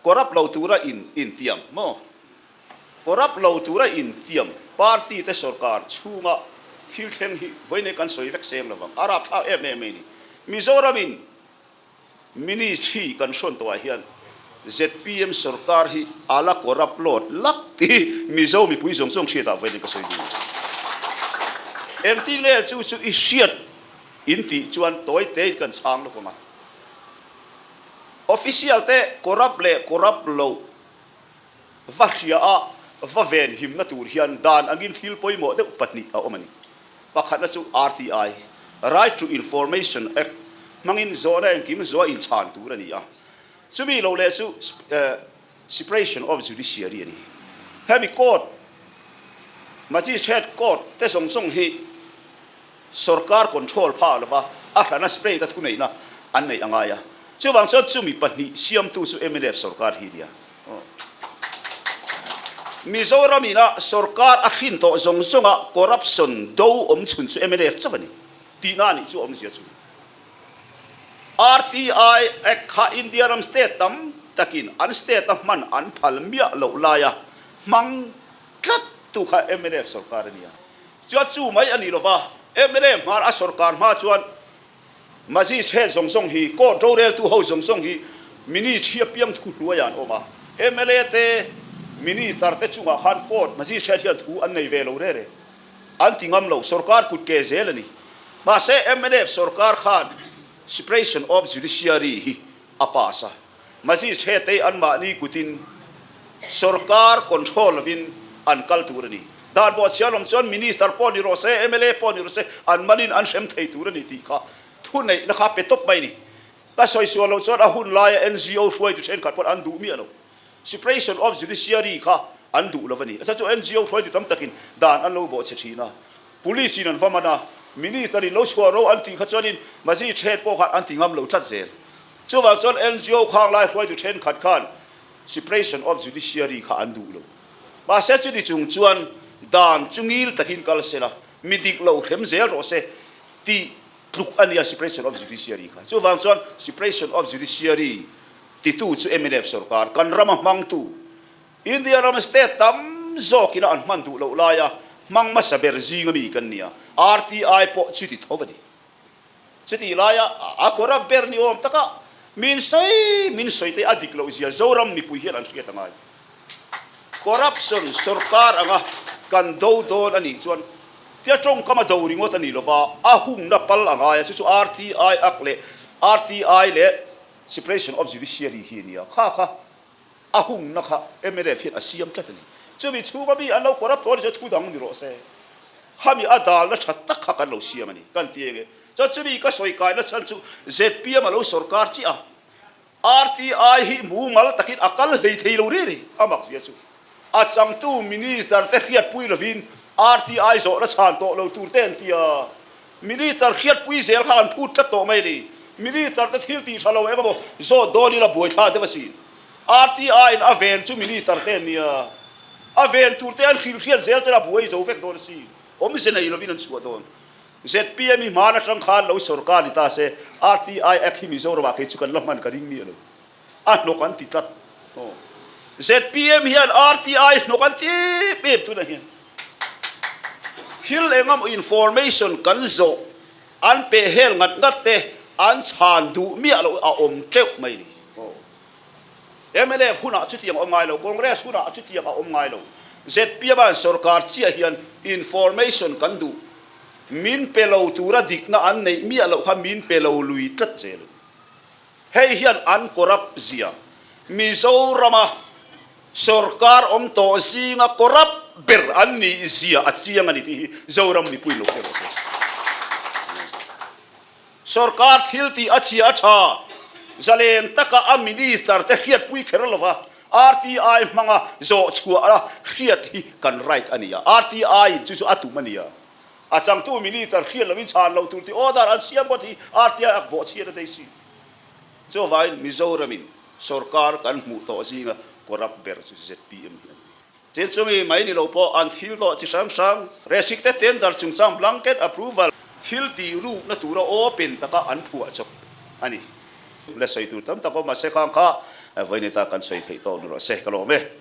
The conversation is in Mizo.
Corrupt lo tura in intiam maw? Corrupt lo tura intiam party te sawrkar chhunga thil thleng hi vawiinei kan sawi vek sem lovang a rapthlak em em mai ni. Mizoramin ministry kan hrawn tawhah hian zpm sawrkar hi a la corrupt lawt lak tih hi Mizo mipui zawng zawng hriatah vawiinei ka sawi bik a ni. Engtin nge chu chu i hriat in tih chuan tawite in kan chhang lawk ang a. Official te corrupt leh corrupt lo va hria a va ven him na tur hian dan angin thil pawimawh deuh pahnih a awm a ni. Pakhatna chu RTI, Right to Information Act, hmangin zawhna engkim zawh a inchhan tur a ni a. Chumi lo leh chu Separation of Judiciary a ni. Hemi court, magistrate court, te zawng zawng hi sorkar control phah lova a hrana state a thuneihna an neih a ngai a. Chuvang chuan chumi pahnih siamtu chu mlf sorkar hi a nia. Mizoram ina sorkar a hrin tawh zawng zawnga corruption do awm chhun chu mlf chauh a ni tihna a nih chu a awmzia chu. RTI Act kha India ram state tam takin an state a hman an phal miah loh laia hmang tlat tu kha mlf sorkar a nia. Chuan chu mai a nih lova mlf hmar a sorkar hma chuan Magistrate zawng zawng hi, court roreltu ho zawng zawng hi Ministry a piang thu hnuaia an awm a. Mla te, Minister te chungah khan court, Magistrate hian thu an nei ve lo rere. An ti ngam lo, sorkar kut ke zel a ni. Mahse, mnf sorkar khan separation of judiciary hi a pass a, Magistrate-te anmahni kutin sorkar control lovin an kal tur a ni. Dan pawh a chhiar lawm chuan Minister pawh ni rawh se, mla pawh ni rawh se, an manin an hrem thei tur a ni tih kha thuneihna kha pe tawp mai a ni. Ka sawi sual loh chuan a hun laia NGO hruaitu thenkhat pawh an duh miah lo. Separation of Judiciary kha an duh lo a ni. Chu NGO hruaitu tam takin dan an lo bawhchhe thin a, Police in an va man a, Minister in lo chhuah ro an tih kha chuanin Magistrate pawh khan an ti ngam lo tlat zel. Chuvang chuan NGO khanglai hruaitu thenkhat khan Separation of Judiciary kha an duh lo. Mahse chuni chung chuan dan chu ngil takin kal sela, mi dik lo hrem zel rawh se tih tluk a nia Separation of Judiciary kha. Chuvang chuan Separation of Judiciary Titu chu Eminem sorkar kan rama hmangtu India ram state tam zawk ina an hman duh loh laia hmang hmasa ber zinga mi kan nia, RTI pawh chuti tho va ni. Chutih laia a khuara ber ni awm taka min sawi min sawi te a dik loh zia Zoram mipui hian an hriat a ngai. Corruption sorkar anga kan do dawn anih chuan tia tawngkama do ringawt a ni lova a hungna pal a ngai a chu chu RTI ak leh RTI leh Separation of Judiciary hi a nia. Kha kha a hungna kha mlf hian a siam tlat a ni. Chumi chhunga mi an lo corrupt tawh ni chu thu dang ni rawh se. Khami a dalna that tak kha kan lo siam a ni. Kan ti eng e. Chuan chumi ka sawi kaihna chhan chu zpm a lo sorkar chiah a, RTI hi mumal takin a kal hlei thei lo riri a mak zia chu. A changtu Minister te hriatpui lovin RTI zawh la chhan tawh lo tur te an ti a, Minister hriatpui zel kha an phut tlat tawh mai a ni. Minister te thil tih tha lo engemaw zawt dawn in a buai thla deuh a si. RTI in a ven chu Minister te an ni a, a ven tur te an hrilh hriat zel ten a buai zo vek dawn a si. Awmze nei lovin an chhuah dawn. Zpm i hmana tangkhan lo sorkar ni ta se, RTI Act hi Mizoram ah kei chu kan la hman ka ring mi a lo. a hnawk an ti tlat aw zpm hian RTI hnawk an ti bip tunah hian thil engemaw information kan zawh an pehel ngat ngat te an chhan duh miah loh a awm teuh mai ni aw mlf hunah chutiang a awm ngai lo congress hunah chutiang a awm ngai lo zpm a sorkar chiah hian information kan duh min pe lo tura dikna an neih miah loh kha min pe lo lui tlat zel. Hei hian an corrupt zia. Mizorama sorkar awm tawh zinga corrupt ber an nih zia a chiang a ni tih hi Zoram mipui lo tlem rawh hian sorkar thil tih a chhia a tha. Zaleng taka a minister te hriat pui kher lova RTI hmanga zawh chhuah a hriat hi kan right a nia. RTI in chu chu a tum a nia. A changtu Minister hriat loin chhan lo tur te order an siam phawt hi RTI a bawh chhiat a daisy. Chuvaiin Mizoramin sorkar kan hmuh tawh zinga corrupt ber chu zpm hi a ni. Chin chumi mai ni lo pawh an thil tawh chi hrang hrang, restricted tender chungchang blanket approval, thil tih rukna tura open taka an phuah chawp a ni. Hla sawi tur tam tak awm a se khang kha Vawineta kan sawi theih tawh nu rawh se ka lawm e.